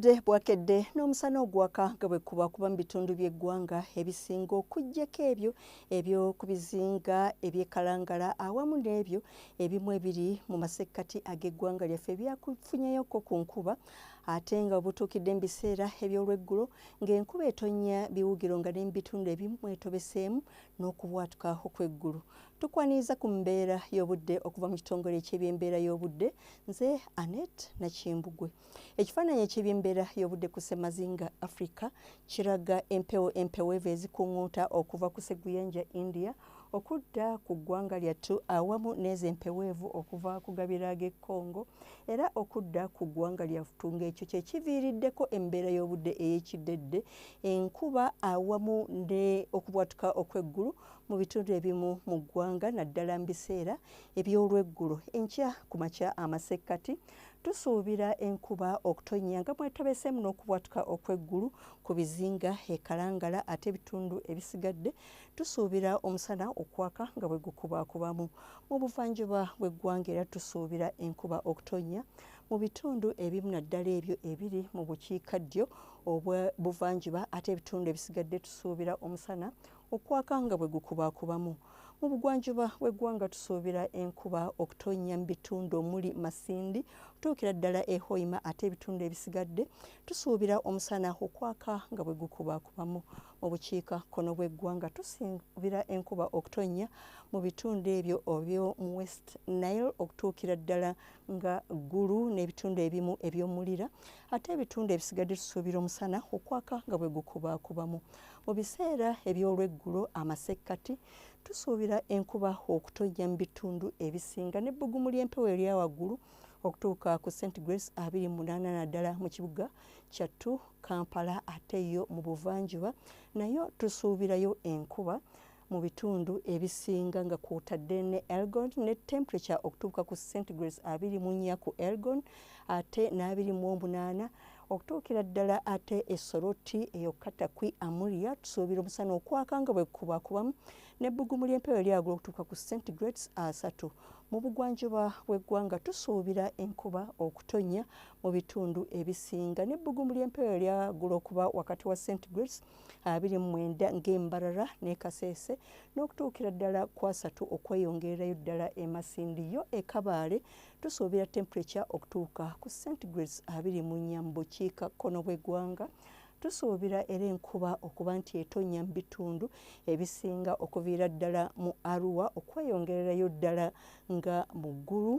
Obudde bwakedde n'omusana ogwaka nga bwe kuba kuba mu bitundu by'eggwanga ebisinga okuggyako ebyo eby'oku bizinga ebyekalangala awamu n'ebyo ebimu ebiri mu masekkati ag'eggwanga lyaffe byakufunyeyoko ku nkuba ate nga obutuukidde mu biseera eby'olweggulo ng'enkuba etonnya biwugiro nga ne mu bitundu ebimu mwetobeseemu n'okubwatuka okw'eggulu tukwaniriza ku mbeera y'obudde okuva mu kitongole eky'ebyembeera y'obudde nze anet nakimbugwe Ekifaananyi eky'ebyembeera y'obudde ku ssemazinga Afrika kiraga empewo empeweevu ezikuŋŋuuta okuva ku ssegguyanja India okudda ku ggwanga lyattu awamu n'ezo empeweevu okuva ku gabira ag'e Congo era okudda ku ggwanga lyattu ng'ekyo kye kiviiriddeko embeera y'obudde ey'ekiddedde enkuba awamu ne okubwatuka okw'eggulu mu bitundu ebimu mu ggwanga naddala mu biseera eby'olweggulo enkya ku makya amasekkati tusuubira enkuba okutonnya nga mwetobeseemu n'okubwatuka okw'eggulu ku bizinga e Kalangala ate ebitundu ebisigadde tusuubira omusana okwaka nga bwe gukubakubamu mu buvanjuba bw'eggwanga era tusuubira enkuba okutonnya mu bitundu ebimu naddala ebyo ebiri mu bukiikaddyo obwa buvanjuba ate ebitundu ebisigadde tusuubira omusana Okwaka nga bwe gukubaakubamu. Mu bugwanjuba bw'eggwanga tusuubira enkuba okutonnya mu bitundu omuli Masindi okutuukira ddala e Hoima ate ebitundu ebisigadde tusuubira omusana okwaka nga bwe gukubaakubamu. Mu bukiika kkono bw'eggwanga tusuubira enkuba okutonnya mu bitundu ebyo eby'omu West Nile okutuukira ddala nga Gulu n'ebitundu ebimu eby'omulira ate ebitundu ebisigadde tusuubira omusana okwaka nga bwe gukubaakubamu mu biseera eby'olweggulo amasekkati tusuubira enkuba okutojja mu bitundu ebisinga n'ebbugumu ly'empewo erya waggulu okutuuka ku st grace abiri munaana naddala mu kibuga kyattu kampala ate yo mu buvanjuba nayo tusuubirayo enkuba mu bitundu ebisinga nga kwotadde ne Elgon ne temperature okutuuka ku centigrades abiri mu nnya ku Elgon ate n'abiri mu omunaana okutuukira ddala ate esoroti eyokukata kwi amuria tusuubira omusana okwaka nga bwekubakubamu nebbugumu ly'empewo eryagula okutuuka ku centigrades asatu mu bugwanjuba bw'eggwanga tusuubira enkuba okutonnya mu bitundu ebisinga n'ebbugumu ly'empewo eryagula okuba wakati wa centigrades abiri mu mwenda ng'embarara ne kaseese n'okutuukira ddala kwasatu okweyongererayo ddala emasindi yo ekabaale tusuubira temperature okutuuka ku centigrades abiri mu nnya mu bukiika kkono bw'eggwanga tusuubira era enkuba okuba nti etonya mu bitundu ebisinga okuviira ddala mu arua okweyongererayo ddala nga mu ggulu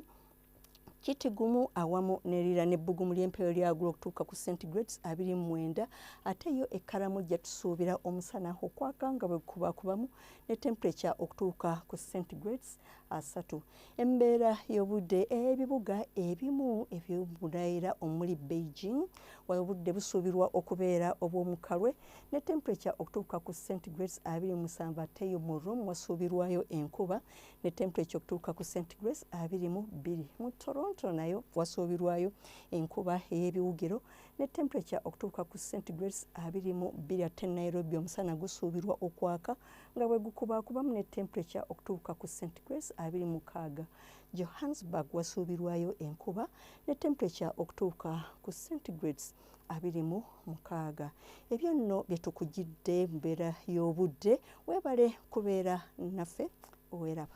kiti gumu awamu nerira n'ebbugumu ly'empeewo lyagula okutuuka ku centigrades abiri mu mwenda ate yo ekkalamu jja tusuubira omusana okwaka nga bwe kubakubamu ne temperature okutuuka ku centigrades asatu embeera y'obudde ebibuga ebimu eby'obunaera omuli beijing obudde busuubirwa okubeera obw'omukalwe ne temperature okutuuka ku centigrades abiri musanvu ate yo mu room wasuubirwayo enkuba ne temperature okutuuka ku centigrades abiri mu bbiri mu toronto nayo wasuubirwayo enkuba ey'ebiwugiro ne temperature okutuuka ku centigrades abiri mu bbiri ate nairobi omusana gusuubirwa okwaka nga bwe gukubaakubamu ne temperature okutuuka ku centigrades abiri mu kaaga johannesburg wasuubirwayo enkuba ne temperature okutuuka ku centigrades abiri mu mukaaga ebyo nno bye tukugidde mbeera y'obudde weebale kubeera naffe oweraba